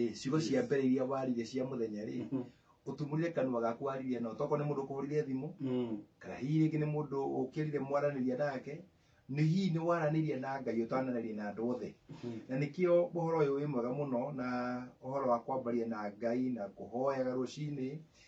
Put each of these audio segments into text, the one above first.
Ĩ, ciugo cia mbere iria waririe cia mũthenya rĩ Mhm. ũtumũrire kanua gaku waririe nao toko nĩ mũndũ kũhũrire thimũ Mm. kana hihi rĩngĩ nĩ mũndũ ũkĩrire mwaranĩria nake nĩ hihi nĩ waranĩria na ngai ũtananĩria na andũ othe Mhm. na nĩkĩo ũhoro ũyũ wĩ mwega mũno na ũhoro wa kwambaria na ngai na kũhoyaga rũcinĩ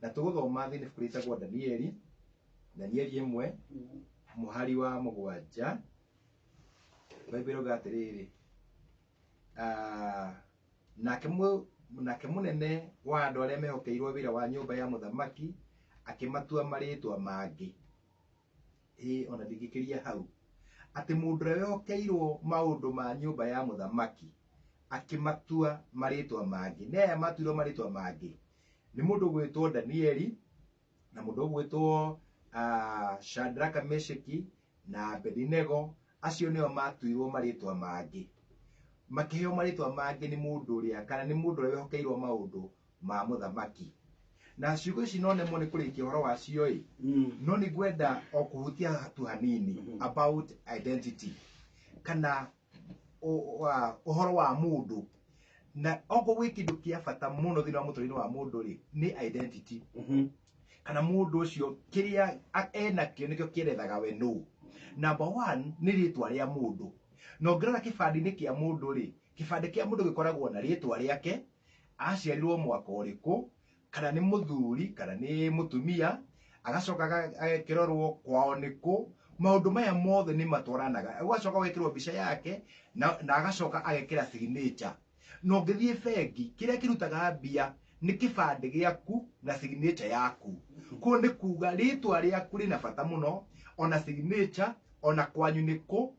na tũgũthoma thĩinĩ ibuku rĩtagwo danieli danieli ĩmwe mũhari wa mũgwanja baibuli rauga atĩrĩrĩ ah, nake mũ- nake mũnene wa andũ arĩa mehokeirwo wĩra wa nyũmba ya mũthamaki akĩmatua marĩtwa mangĩ ĩĩ ona ndingĩkĩria hau atĩ mũndũ ũrĩa wehokeirwo maũndũ ma nyũmba ya mũthamaki akĩmatua marĩtwa mangĩ na aya matuirwo marĩtwa mangĩ nĩ mũndũ ũgwĩtwo danieli na mũndũ ũgwĩtwo ah, shadraka mesheki na abedinego acio nĩo matuirwo marĩtwa mangĩ makĩheo marĩtwa mangĩ nĩ mũndũ ũrĩa kana nĩ mũndũ ũrĩa wehokeirwo maũndũ ma mũthamaki na ciugo ici no nemwo nĩ kũrĩkia ũhoro wacio-ĩ Mm. no nĩ ngwenda o kũhutia hatu hanini Mhm. about identity kana ũ- wa- ũhoro wa mũndũ na okorwo gwĩ kĩndũ kĩa bata mũno thĩinĩ wa mũtũrĩre wa mũndũ-rĩ nĩ identity Mhm. kana mũndũ ũcio kĩrĩa a- enakĩo nĩkĩo kĩerethaga we nũ namba one nĩ rĩtwa rĩa mũndũ na ũngĩrora kĩbandĩ-inĩ kĩa mũndũ rĩ kĩbandĩ kĩa mũndũ gĩkoragwo na rĩtwa rĩake aciarirwo mwaka ũrĩkũ kana nĩ mũthuri kana nĩ mũtumia agacoka aga- agekĩrorwo kwao nĩkũ maũndũ maya mothe nĩ matwaranaga ũgacoka ũgekĩrwo mbica yake na, na agacoka agekĩra signature na ũngĩthiĩ bengi kĩrĩa kĩrutaga mbia nĩ kĩbandĩ gĩaku na signature yaku kuo nĩ kuga rĩtwa rĩaku rĩna bata mũno ona signature ona kwanyu nĩkũ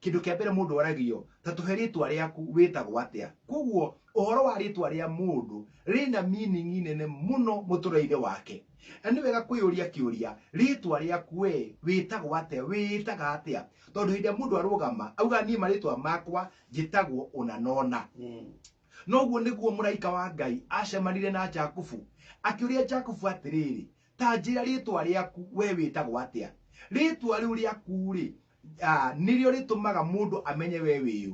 Kĩndũ kĩa mbere mũndũ oragio, ta tũhe rĩtwa rĩaku, wĩtagwo atĩa? Kwoguo ũhoro wa rĩtwa rĩa mũndũ rĩna meaning nene mũno mũtũrĩre-inĩ wake. Na nĩ wega kwĩyũria kĩũria, rĩtwa rĩaku wee, wĩtagwo atĩa, wĩĩtaga atĩa? Tondũ hĩndĩ ĩrĩa mũndũ arũgama augaga niĩ marĩtwa makwa njĩtagwo ũna na ũna. Na ũguo nĩguo mũraika wa Ngai acemanire na Jakubu, akĩũria Jakubu atĩrĩrĩ, ta njĩra rĩtwa rĩaku wee wĩtagwo atĩa? Rĩtwa rĩu rĩaku-rĩ, Ah, nĩrĩo rĩtũmaga mũndũ amenye we wĩũ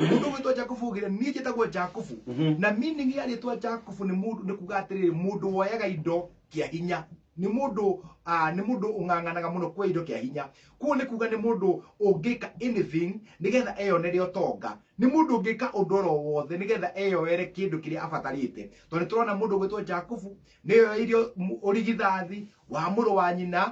mũndũ gwĩtwa jakubu ũgĩre niĩ njĩtagwo jakubu Mhm. na meaning ya rĩtwa jakubu nĩ mũndũ nĩ kuga atĩrĩrĩ mũndũ woyaga indo kĩa hinya nĩ mũndũ ah, nĩ mũndũ ũng'ang'anaga mũno kwa indo kĩa hinya kuo nĩ kuga nĩ mũndũ ũngĩka anything nĩgetha eyonere ũtonga nĩ mũndũ ũngĩka ũndũ oro wothe nĩgetha eyoere kĩndũ kĩrĩa abatarĩte tondũ nĩ tũrona mũndũ gwĩtwa jakubu nĩyoeire ũrigithathi wa mũrũ wa nyina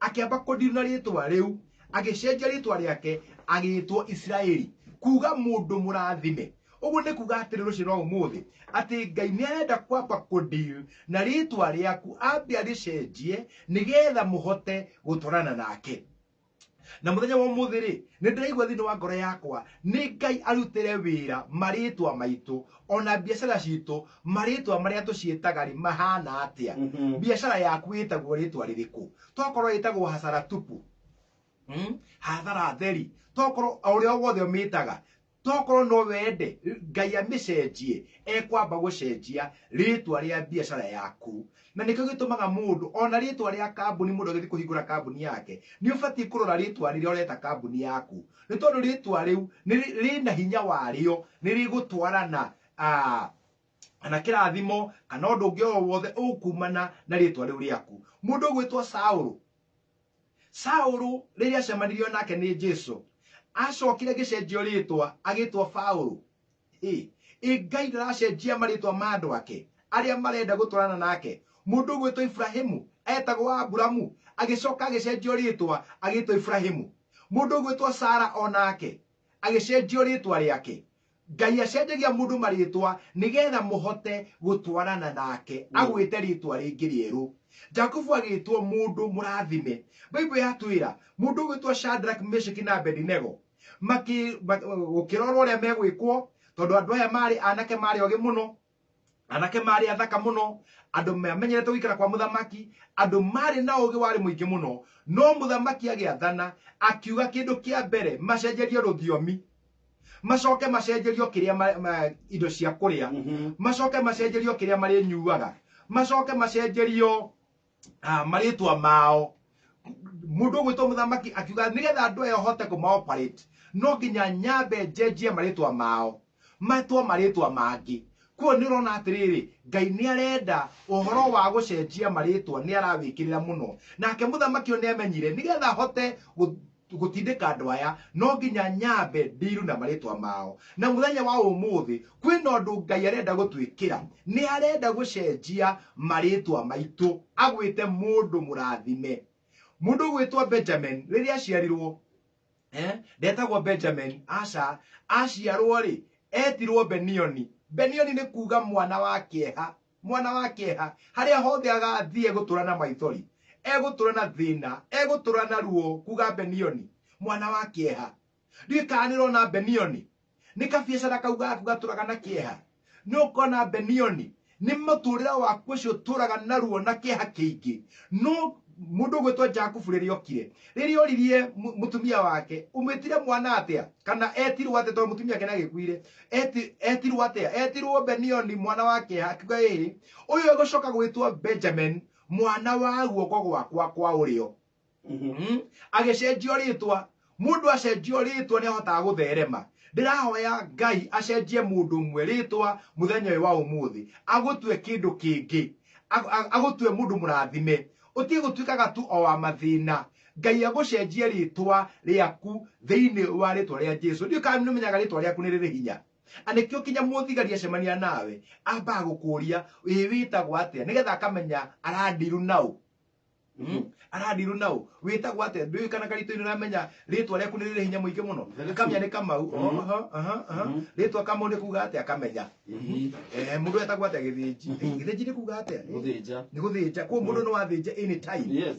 akĩamba kũndiru na rĩtwa rĩu agĩcenjia rĩtwa rĩake agĩtwo isiraeli kuga mũndũ mũrathime ũguo nĩ kuga atĩrĩ rũciũ no ũmũthĩ atĩ ngai nĩ arenda kwamba kũndiru na rĩtwa rĩaku ambe arĩcenjie nĩgetha mũhote gũtwarana nake na muthenya wa umuthi ri ni ndiraigua thini wa ngoro yakwa ni ngai arutire wira maritwa maitu ona biacara citu marĩtwa marĩa tũciĩtaga-rĩ mahana atĩa? Mhm. biacara yaku ĩtagwo rĩtwa rĩrĩkũ? tokorwo ĩtagwo hasara tupu mm? hathara theri tokorwo o ũrĩa wothe ũmĩtaga tokorwo no wende ngai amĩcenjie ekwamba gũcenjia rĩtwa rĩa biacara yaku na nĩkĩo gĩtũmaga mũndũ ona rĩtwa rĩa kambuni mũndũ agĩthiĩ kũhingũra kambuni yake nĩ ũbatiĩ kũrora rĩtwa rĩrĩa ũreta kambuni yaku nĩ tondũ rĩtwa rĩu nĩ rĩ- rĩna hinya warĩo nĩ rĩgũtwarana ah, kana kĩrathimo kana ũndũ ũngĩ o wothe ũkumana na rĩtwa rĩu rĩaku mũndũ ũgwĩtwo saũlũ saũlũ rĩrĩa acemanirio nake nĩ jesu acokire agĩcenjio rĩtwa agĩtwo paũlũ Ĩ, ĩ ngai ndaracenjia marĩtwa ma andũ ake arĩa marenda gũtwarana nake mũndũ ũgwĩtwo iburahimu etagwo aburamu agĩcoka agĩcenjio rĩtwa agĩtwo iburahimu mũndũ ũgwĩtwo sara o nake agĩcenjio rĩtwa rĩake Ngai acenjagia mũndũ marĩĩtwa nĩgeetha mũhote gũtwarana nake. Agwĩte rĩĩtwa rĩngĩ rĩerũ. Jakubu agĩĩtwo mũndũ mũraathime. Bible yatwĩra mũndũ ũgwĩtwo Shadrach, Meshach na Abedinego makĩ, gũkĩrorwo ũrĩa megwĩkwo tondũ andũ aya maarĩ anake maarĩ ogĩ mũno, anake marĩ athaka mũno andũ mamenyerete gũikara kwa mũthamaki andũ marĩ na ũgĩ warĩ mũingĩ mũno no mũthamaki agĩathana akiuga kĩndũ kĩa mbere macenjerie rũthiomi macoke macenjerio kĩrĩa ma, ma, indo cia kũrĩa Mhm. macoke macenjerio kĩrĩa marĩnyuaga macoke macenjerio ah, marĩtwa mao mundu ũgwĩtwo mũthamaki akiuga nĩgetha andũ aya hote kũmaoperate no nginya nyambe njenjie marĩtwa mao matwo marĩtwa mangĩ kuo nĩ ũrona atĩrĩrĩ ngai nĩ arenda ũhoro wa gũcenjia marĩtwa nĩ arawĩkĩrĩra mũno nake mũthamaki ũyũ nĩ amenyire nĩgetha hote gũ- gũtindĩka andũ aya no nginya nyambe ndiru na marĩtwa mao na mũthenya wa ũmũthĩ kwĩna ũndũ ngai arenda gũtwĩkĩra nĩ arenda gũcenjia marĩtwa maitũ agwĩte mũndũ mũrathime mũndũ ũgwĩtwo benjamin rĩrĩa aciarirwo eh, ndetagwo benjamin aca aciarwo rĩ etirwo benioni benioni nĩ kuga mwana wa kĩeha Mwana wa kĩeha, harĩa hothe agaathiĩ egũtũũra na maithori, egũtũũra na thĩĩna, egũtũũra na ruo, kuuga Benioni, mwana wa kĩeha. Ndiũĩ kana nĩ ũrona Benioni? Nĩ kabiacara kau gaku gatũũraga na kĩeha? Nĩ ũkona Benioni? Nĩ mũtũũrĩre waku ũcio ũtũũraga na ruo na kĩeha kĩingĩ? No mũndũ ũgwĩtwo Jakubu rĩrĩa okire, rĩrĩa oririe mũtumia wake, ũmwĩtire mwana atĩa? Kana eetirwo atĩa tondũ mũtumia wake nĩ agĩkuire? Eti- etirwo atia etirwo benioni mwana wa kĩha akiuga ĩĩ ũyũ egũcoka gwĩtwo benjamin mwana wa guoko gwakwa kwa ũrĩo Mm. agĩcenjio rĩtwa mũndũ acenjio rĩtwa nĩ ahotaga gũtherema ndĩrahoya ngai acenjie mũndũ ũmwe rĩtwa mũthenya ũyũ wa ũmũthĩ agũtue kĩndũ kĩngĩ Ag- ag- agũtue mũndũ mũrathime Ũtige gũtuĩkaga tu o wa mathĩna. Ngai agũcenjie rĩtwa rĩaku thĩinĩ wa rĩtwa rĩa Jesu. Ndiũĩ kana nĩ ũmenyaga rĩtwa rĩaku nĩ rĩrĩ hinya. Na nĩkĩo kinya mũthigari acemania nawe ambaga gũkũria ĩĩ wĩtagwo atĩa nĩgetha akamenya arandiru naũ. Mm. Arandiru naũ. Wĩtagwo atĩa? Ndũĩ kana karito-inĩ ũramenya rĩtwa rĩaku nĩ rĩrĩ hinya mũingĩ mũno. Very true. Akamenya nĩ Kamau. Mhm. Oho, aha, aha. Mhm. Rĩtwa Kamau nĩ kuga atĩa akamenya. Mhm. eh mundu etagwo atia githinji Mhm. githinji ni kuga atia ni Gũthĩnja. guthinja kwa mundu ni wathinja any time Yes.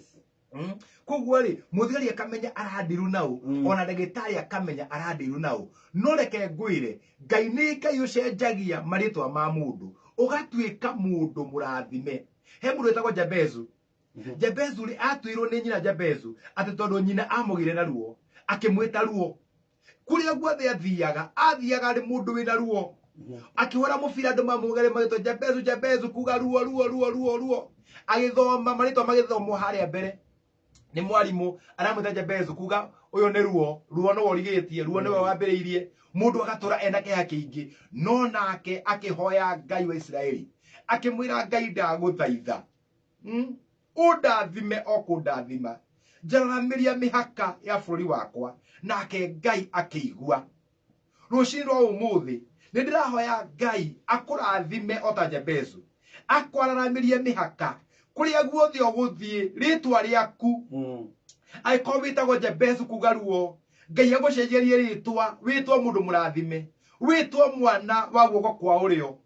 Mm. koguo rĩ mũthigari akamenya arandiru naũ Mm. ona ndagĩtarĩ akamenya arandiru naũ no reke ngwĩre ngai nĩ ngai ũcenjagia marĩtwa ma mũndũ ũgatuĩka mũndũ mũrathime he mũndũ wĩtagwo jabezu Mhm. jabezu rĩ atuirwo nĩ nyina jabezu atĩ tondũ nyina amũgire na ruo akĩmwĩta ruo kuria guothe athiaga athiaga arĩ mũndũ wĩna ruo akĩhũra mũbira andũ mamũgere magĩtwa jabezu jabezu kuga ruo ruo ruo ruo ruo agĩthoma marĩtwa magĩthomwo harĩa mbere nĩ mwarimũ aramwĩta jabezu kuga ũyũ nĩ ruo ruo nĩwe ũrigĩtie ruo nĩwe wambĩrĩirie mũndũ agatũra ena kĩha kĩingĩ no nake akĩhoya ngai wa isiraeli akĩmwĩra ngai ndagũthaitha Mm. ũndathime o kũndathima njararamĩria mĩhaka ya bũrũri wakwa nake ngai akĩigua rũcinĩ rwa ũmũthĩ nĩ ndĩrahoya ngai akũrathime o ta jebezu akwararamĩrie mĩhaka kũrĩa guothe ũgũthiĩ rĩtwa rĩaku Mm. angĩkorwo wĩtagwo jebezu kuga ruo ngai agũcenjerie rĩtwa wĩtwo mũndũ mũrathime wĩtwo mwana wa guoko kwa ũrĩo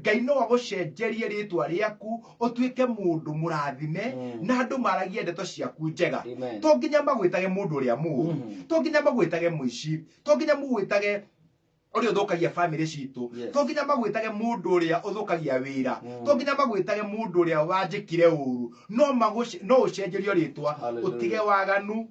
Ngai no agũcenjerie rĩtwa rĩaku ũtuĩke mũndũ mũrathime Mm. na andũ maragie ndeto ciaku njega Amen. to nginya magwĩtage mũndũ ũrĩa mũũru Mhm. to nginya magwĩtage mũici to nginya mũgwĩtage ũrĩa ũthũkagia bamĩrĩ citũ Yes. to nginya magwĩtage mũndũ ũrĩa ũthũkagia wĩra Mm. to nginya magwĩtage mũndũ ũrĩa wanjĩkire ũru no magũce- no ũcenjerio rĩtwa Hallelujah. ũtige waganu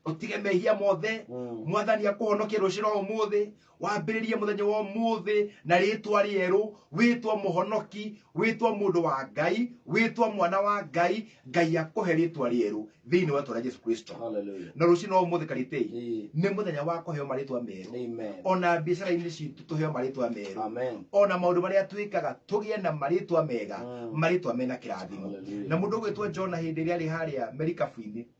utige mehia mothe Mm. mwathani akũhonokie rũcira ũmũthĩ wambĩrĩrie mũthenya wa ũmũthĩ na rĩtwa rĩerũ wĩtwa mũhonoki wĩtwa mũndũ wa ngai wĩtwa mwana wa ngai ngai akũhe rĩtwa rĩerũ thĩinĩ wa rĩtwa rĩa jesu kristo Hallelujah. na rũcina ũmũthĩ karitei Eh. nĩ mũthenya wa kũheo marĩtwa merũ Amen. ona biacara-inĩ citũ tũheo marĩtwa merũ Amen. ona maũndũ marĩa twĩkaga tũgĩe na marĩtwa mega Mm. marĩtwa mena kĩrathimo Hallelujah. na mũndũ ũgwĩtwo jona hĩndĩ ĩrĩa arĩ harĩa merikabu-inĩ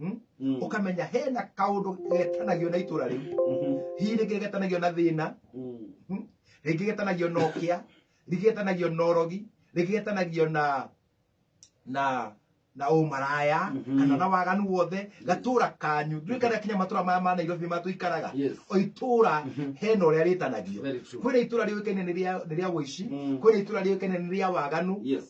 Hmm? Mm. ukamenya hena kaundu getanagio na itura riu Mhm. hihi rĩngĩ getanagio na thĩna Mm. hmm? rĩngĩ getanagio na ũkĩa rĩngĩ getanagio na ũrogi rĩngĩ getanagio na na na ũmaraya Mhm. kana na waganu wothe gatũra kanyu nduĩ kana kinya matũra maya ma nairobi nĩ matũikaraga Yes. o itũra Mhm. hena ũrĩa rĩtanagio Very true. kwĩna itũra rĩũĩkaine nĩ rĩa- nĩ rĩa ũici Mm. kwĩna itũra rĩũĩkaine nĩ rĩa waganu Yes.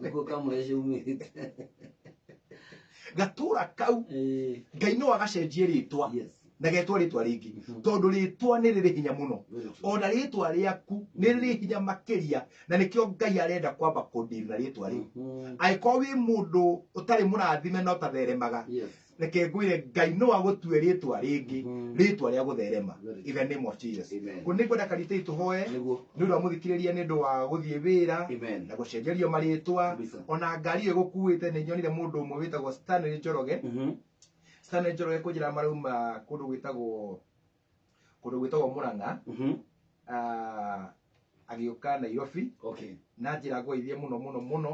Nĩguo kamũre ciaumĩte. gatũra kau Eh, ngai no agacenjie rĩtwa Yes. na getwa rĩtwa rĩngĩ Mhm. tondũ rĩtwa nĩ rĩrĩ hinya mũno Very true. ona rĩtwa rĩaku nĩ rĩrĩ hinya makĩria na nĩkĩo ngai arenda kwamba kũndiri na rĩtwa rĩu Mhm. angĩkorwo wĩ mũndũ ũtarĩ mũrathime na ũtatheremaga Yes. reke ngwire ngai no agũtue rĩtwa rĩngĩ rĩtwa rĩa gũtherema in the name of jesus Amen. kũ nĩ ngwenda karitĩi tũhoe Nĩguo. nĩ ũndũ wa mũthikĩrĩria nĩ ũndũ wa gũthiĩ wĩra Amen. na gũcenjerio marĩtwa Kabisa. ona ngari ĩyo ĩgũkuĩte nĩ nyonire mũndũ ũmwe wĩtagwo stanley njoroge Mhm. stanley njoroge kũnjĩra marauma kũndũ gwĩtagwo kũndũ gwĩtagwo mũrang'a Mhm. ah, agĩũka nairobi okay na njĩra ngwaithie mũno mũno mũno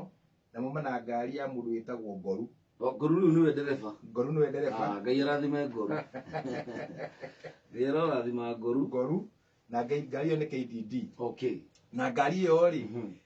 na muma na ngari ya mũndũ wĩtagwo ngoru O, ngoru rĩu nĩwe ndereba ngoru nĩwe ndereba Ah, ngai arathime ngoru ngai arathima ngoru ngoru na ngai- ngari ĩyo nĩ kdd okay na ngari ĩyo rĩ Mhm.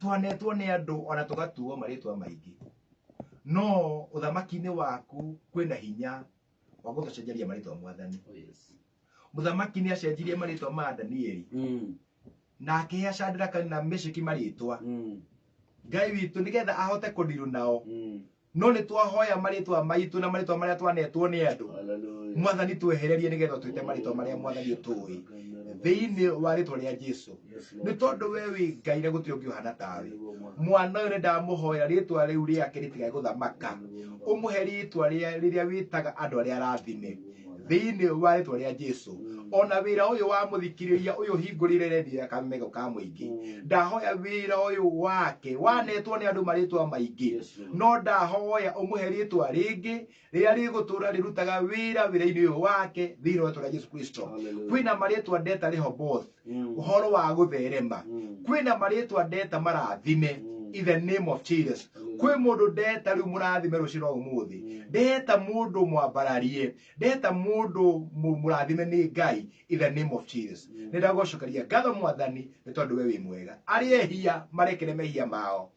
twanetwo nĩ andũ ona tũgatuo marĩtwa maingĩ no ũthamaki-inĩ waku kwĩna hinya wa gũtũcenjeria marĩtwa mwathani Oh, yes. mũthamaki nĩ acenjirie marĩtwa ma danieli Mm, na akĩhea shadraka na meshaki marĩtwa mm, ngai witũ nĩgetha ahote kũndirũ nao mm, no nĩ twahoya marĩtwa maitũ na marĩtwa marĩa twanetwo nĩ andũ Hallelujah. mwathani twehererie nĩgetha twĩte marĩtwa marĩa mwathani tũĩ thĩinĩ wa rĩtwa rĩa jesu Yes, Lord. nĩ tondũ we wĩ ngai na gũtirĩ ũngĩ ũhana tawe mwana ũyũ nĩ ndamũhoera rĩtwa rĩu rĩake rĩtigae gũthamaka ũmũhe rĩtwa rĩa- rĩrĩa wĩtaga andũ arĩa arathime thĩinĩ wa rĩtwa rĩa jesu ona wĩra ũyũ wa mũthikĩrĩria ũyũ hingũrĩre redio ya kamego ka mũingĩ ndahoya wĩra ũyũ wake wanetwo nĩ andũ marĩtwa maingĩ Yesu. no ndahoya ũmũhe rĩtwa rĩngĩ rĩrĩa rĩgũtũra rĩrutaga wĩra wĩra-inĩ ũyũ wake thĩinĩ wa rĩtwa rĩa jesu kristo Hallelujah. kwĩna marĩtwa ndeta rehoboth Mm. ũhoro wa gũtherema Mm. kwĩna marĩtwa ndeta marathime Mm. in the name of jesus Hallelujah. kwĩ mũndũ ndeta rĩu mũrathime rũciũ rwa ũmũthĩ Mm. ndeta mũndũ mwambararie ndeta mũndũ mũ- mũrathime nĩ ngai in the name of jesus Mm. nĩ ndagũcokeria ngatho mwathani nĩ tondũ we wĩ mwega arĩa ehia marekere mehia mao